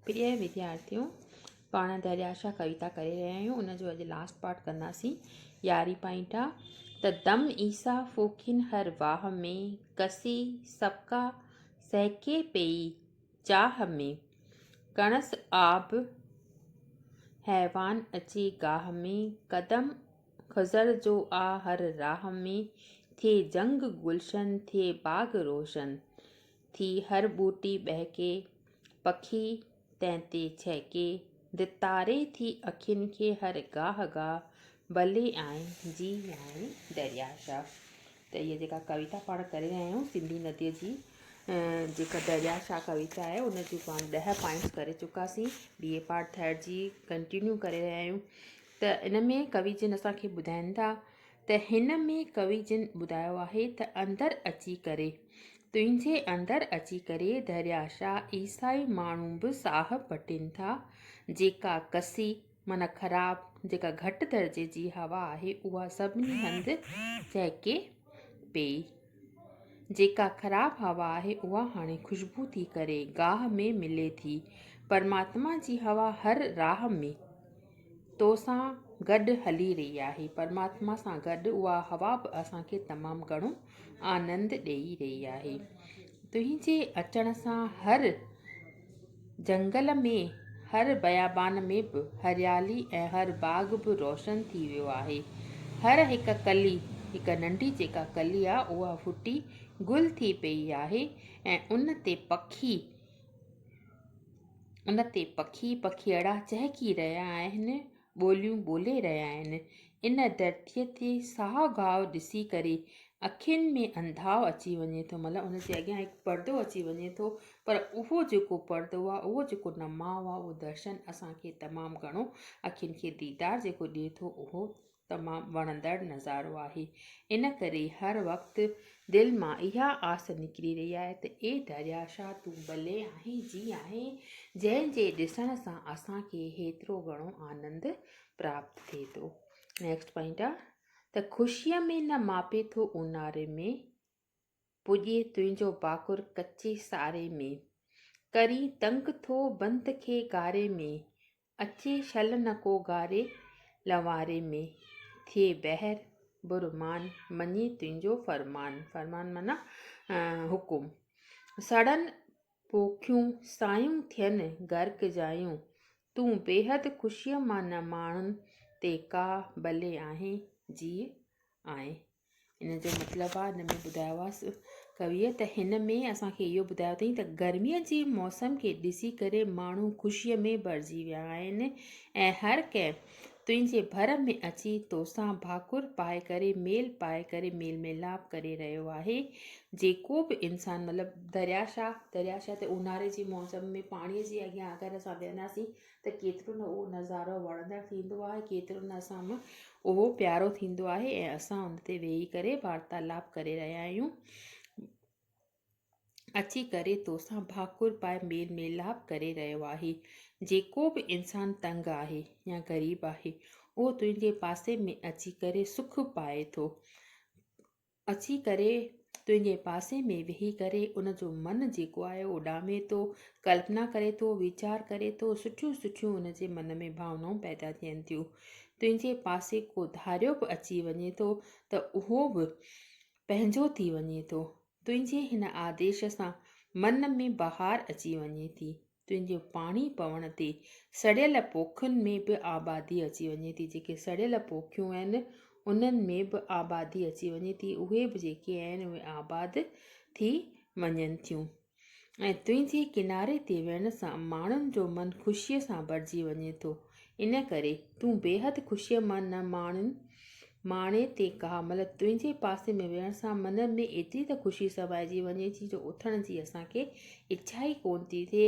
پريء وديارٿيو! پاڻ دريا شاهه ڪويتا ڪري رهيا آهيون، ان جو اڄ لاسٽ پارٽ ڪنداسين. يارهين پوائنٽ آ ته دم عيسيٰ ڦوڪين هر واهه ۾، ڪسي سڪا سهڪي پيئي چاهه ۾، ڪڻس آب حيوان اچي گاهه ۾، قدم خضر جو آ هر راهه ۾، ٿئي جهنگ گلشن، ٿئي باغ روشن. ٿي هر ٻوٽي ٻهڪي، پکي تنهن تي ڇهڪي. ڌتاري ٿي اکين کي هر گاهه گاهه، ڀلي آئين جي آئين دريا شاهه. ته هيء جيڪا ڪويتا پاڻ ڪري رهيا آهيون سنڌي نديء جي جيڪا دريا شاهه ڪويتا آهي ان جون پاڻ ڏهه پوائنٽس ڪري چڪاسين ٻي اي پارٽ ٿرڊ جي ڪنٽينيو ڪري رهيا آهيون ته ان ۾ ڪوي جن اسان کي ٻڌائين ٿا ته هن ۾ ڪوي جن ٻڌايو آهي ته اندر اچي ڪري، تنهنجي اندر اچي ڪري درياشاه عيسائي ماڻهو به ساهه پٽين ٿا، جيڪا ڪسي، معنيٰ خراب، جيڪا گهٽ درجي جي هوا آهي، اها سڀني هنڌ چهڪي پيئي. جيڪا خراب هوا آهي، اها هاڻي خوشبو ٿي ڪري، گاهه ۾ ملي ٿي. پرماتما جي هوا هر راهه ۾. تو سان گڏ هلي رهي آهي. پرماتما سان گڏ اها هوا به اسان کي تمام گهڻو آنند ڏيئي رهي آهي. تنهنجي اچڻ سان هر جهنگل ۾، هر بيابان ۾ به هريالي ۽ هر باغ به روشن ٿي ويو آهي. هر هڪ ڪلي، هڪ ننڍي جيڪا ڪلي آهي اها ڦٽي گل ٿي پيئي آهي ۽ ان تي پکي، ان تي پکي پکيئڙا چهڪي رهيا آهن، ٻوليون ٻولي رهيا آهن. ان ڌرتيء تي ساهه گاهه ڏسي ڪري اکين ۾ انڌاء اچي وڃي ٿو. مطلب ان جي اڳيان هڪ پردو اچي وڃي ٿو. پر اهو جيڪو پردو آهي، اهو جيڪو نماء آهي، اهو درشن اسان کي تمام گهڻو اکين کي ديدار جيڪو ڏئي ٿو، اهو تمام وڻندڙ نظارو آهي ان ڪري هر وقت دل مان اها آس نڪري رهي آهي ته اي درياء شاهه تون ڀلي آهين جي آهين جنهن جي ڏسڻ سان اسان کي هيترو گهڻو آنند پراپت ٿئي ٿو نيڪسٽ پوائنٽ آهي ته خوشيء ۾ نه ماپي ٿو اونهاري ۾ پڄي تنهنجو باکر ڪچي ساري ۾، ڪرين تنگ ٿو بند کي گاري ۾، اچي شل نه ڪو گاري لنواري ۾، ٿئي بحر برمان مڃي تنهنجو فرمان، فرمان معنيٰ حڪم، سڙن پوکيون سايون ٿين غرق جايون، تون بيحد خوشيء مان نه ماڻهن تي ڪا بلي آهين جيء آئين. ان جو مطلب آ ان ۾ ٻڌايو آس ڪويء ته هن ۾ اسان کي اهو ٻڌايو اٿئين ته گرميء جي موسم کي ڏسي ڪري ماڻهو خوشيء ۾ ڀرجي ويا آهن ۽ هر ڪنهن تنهنجي ڀر ۾ اچي توسان ڀاڪر پائي ڪري ميل پائي ڪري ميل ميلاپ ڪري رهيو آهي جيڪو به انسان مطلب دريا شاهه دريا شاهه تي اونهاري جي موسم ۾ پاڻيء جي اڳيان اگر اسان ويهنداسين ته ڪيترو نه اهو نظارو وڻندڙ ٿيندو آهي، ڪيترو نه اسان ۾ اهو پيارو ٿيندو آهي ۽ اسان ان تي ويهي ڪري وارتالاپ ڪري رهيا آهيون. اچي ڪري توسان ڀاڪر پائي ميل ميلاپ ڪري رهيو آهي. جيڪو به انسان تنگ آهي يا غريب آهي، اهو تنهنجي پاسي ۾ اچي ڪري سک پائي ٿو. اچي ڪري تنهنجي پاسي ۾ ويهي ڪري ان جو من جيڪو آهي اڏامي ٿو، ڪلپنا ڪري ٿو، ويچار ڪري ٿو، سٺيون سٺيون ان جي من ۾ ڀاونائون پيدا ٿين ٿيون. تنهنجي پاسي ڪو ڌاريو به اچي وڃي ٿو ته اهو به پنهنجو ٿي وڃي ٿو. تنهنجي هن آديش سان من ۾ بهار اچي وڃي ٿي. تنهنجي پاڻي پوڻ تي سڙيل پوکن ۾ به آبادي اچي وڃي ٿي، جيڪي سڙيل پوکيون آهن، انهن ۾ به آبادي اچي وڃي ٿي، اهي به جيڪي آهن، اهي آباد ٿي وڃن ٿيون ۽ تنهنجي ڪناري تي ويهڻ سان ماڻهن جو من خوشيء سان ڀرجي وڃي ٿو. ان ڪري تون بيحد خوشيء مان نه ماڻين. ماڻي تي ڪا مھل تنھنجي پاسي ۾ ويھڻ سان من ۾ ايتري ته خوشي سمائجي وڃي ٿي جو اٿڻ جي اسان کي اڇا ئي ڪونه ٿي ٿئي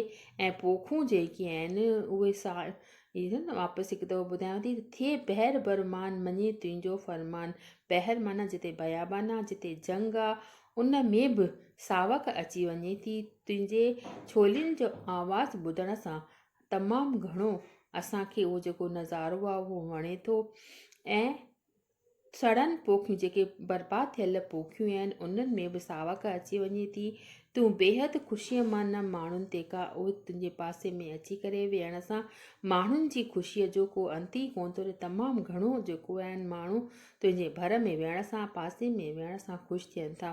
۽ پوکون جيڪي آھن اھي ساڻ ئي ٿين. واپس ھڪ دفعو ٻڌايان ٿي ته ٿئي بحر بر مان مڃي تنھنجو فرمان. بحر معنيٰ جتي بيابان آ، جتي جھنگ آ، ان ۾ به ساوڪ اچي وڃي ٿي تنھنجي ڇولين جو آواز ٻڌڻ سان. تمام گهڻو اسان کي اهو جيڪو نظارو آهي اهو وڻي ٿو ۽ سڙن پوکيون جيڪي برباد ٿيل پوکيون آهن انهن ۾ به ساوڪ اچي وڃي ٿي تون بيحد خوشيء مان نه ماڻهن تي کا اهو تنهنجي پاسي ۾ اچي ڪري ويهڻ سان ماڻهن جي خوشيء جو ڪو انت ئي ڪونه ٿو تمام گهڻو جيڪو آهن ماڻهو تنهنجي ڀر ۾ ويهڻ سان پاسي ۾ ويهڻ سان خوش ٿين ٿا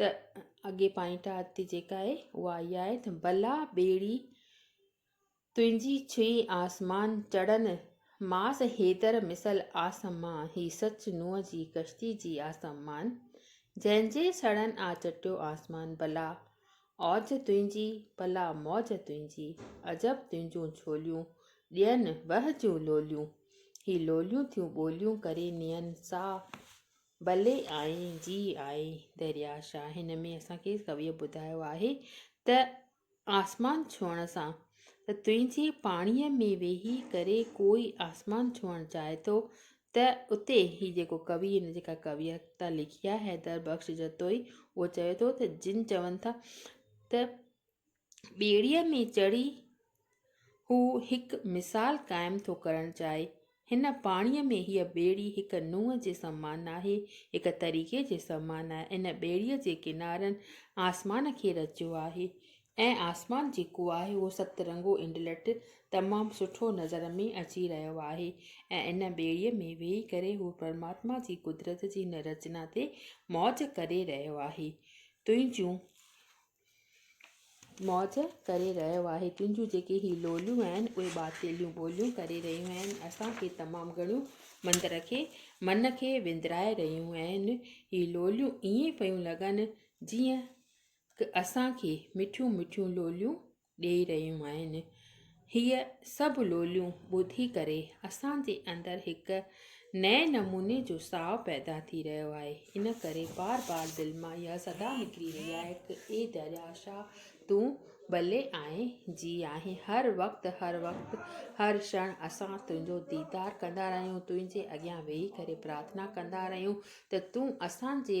ته اڳي پائنٽ آهه تي جيڪا آهي اها اها آهي ته بلا ٻيڙي تنهنجي ڇهي آسمان چڙهن ماس حيدر مثل آسمان هي سچ نوح جي ڪشتي جي آسمان جنهن جي سڙهن آ چٽيو آسمان بلا اوج تنهنجي بلا موج تنهنجي عجب تنهنجون ڇوليون ڏين وهه جون لوليون هي لوليون ٿيون ٻوليون ڪري نين ساهه بلي آئي جي آء دريا شاهه هن ۾ اسان کي ڪويء ٻڌايو آهي ته آسمان ڇهڻ سان ته تنهنجي پاڻيء ۾ ويهي ڪري ڪوئي آسمان ڇهڻ چاهي ٿو ته اتي هي جيڪو ڪوي هن جيڪا ڪويتا لکي آهي حيدر بخش جتوئي اهو چوي ٿو ته جن چون ٿا ته ٻيڙيء ۾ چڙهي هو هڪ مثال قائم ٿو ڪرڻ چاهي. هن پاڻيء ۾ هيء ٻيڙي هڪ نونهن جي سمان ناهي، هڪ طريقي جي سمان آهي. ان ٻيڙيء جي ڪنارن آسمان کي رچيو آهي ۽ آسمان جيڪو آهي اهو ست رنگو انڊلٺ تمام سٺو نظر ۾ اچي رهيو آهي ۽ ان ٻيڙيء ۾ ويهي ڪري هو پرماتما جي قدرت جي ان رچنا تي موج ڪري رهيو آهي. تنهنجون موج ڪري رهيو آهي تنهنجون جيڪي هي لوليون آهن اهي ٻاٽيليون ٻوليون ڪري رهيون آهن اسان کي تمام گهڻيون مندر کي من کي وندرائي رهيون آهن هي لوليون ائين پيون لڳن جيئن اسان کي مٺيون مٺيون لوليون ڏيئي رهيون آهن. هيء سڀ لوليون ٻڌي ڪري اسان جي اندر هڪ نئين نموني جو ساهه پيدا ٿي رهيو آهي. ان ڪري بار بار دل مان اها صدا نڪري رهي آهي ته اي درياء شاهه تون ٻلي آهين جي آهين هر وقت هر وقت هر ڇڻ اسان تنهنجو ديدار ڪندا رهيون تنهنجي اڳيان ويهي ڪري پرارٿنا ڪندا رهيون ته تون اسان جي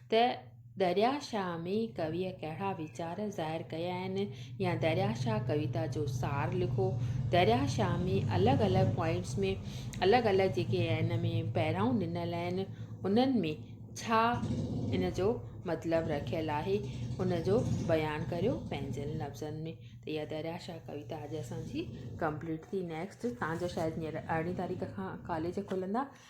ته دريا شاهه ۾ ڪويء ڪهڙا ويچار ظاهر ڪيا آهن يا دريا شاهه ڪويتا جو سار لکو. دريا شاهه ۾ الڳ الڳ پوائنٽس ۾ الڳ الڳ جيڪي ان ۾ پهرائون ڏنل آهن انهن ۾ ڇا ان جو مطلب رکيل آهي ان جو بيان ڪريو پنهنجن لفظن ۾ ته اها دريا شاهه ڪويتا اڄ اسان جي ڪمپليٽ ٿي نيڪسٽ تان جو شايد هينئر ارڙهين تاريخ کان ڪاليج کلندا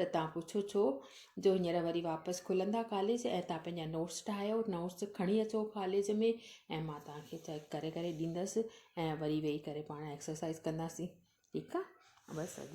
ته تان پڇو ڇو جو هينئر وري واپس کلندا ڪاليج ۽ تان پنهنجا نوٽس ٺاهيو نوٽس کڻي اچو ڪاليج ۾ ۽ مان تان کي چيڪ ڪري ڪري ڏيندس ۽ وري ويهي ڪري پاڻ ايڪسرسائز ڪنداسين ٺيڪ آ بس اڄ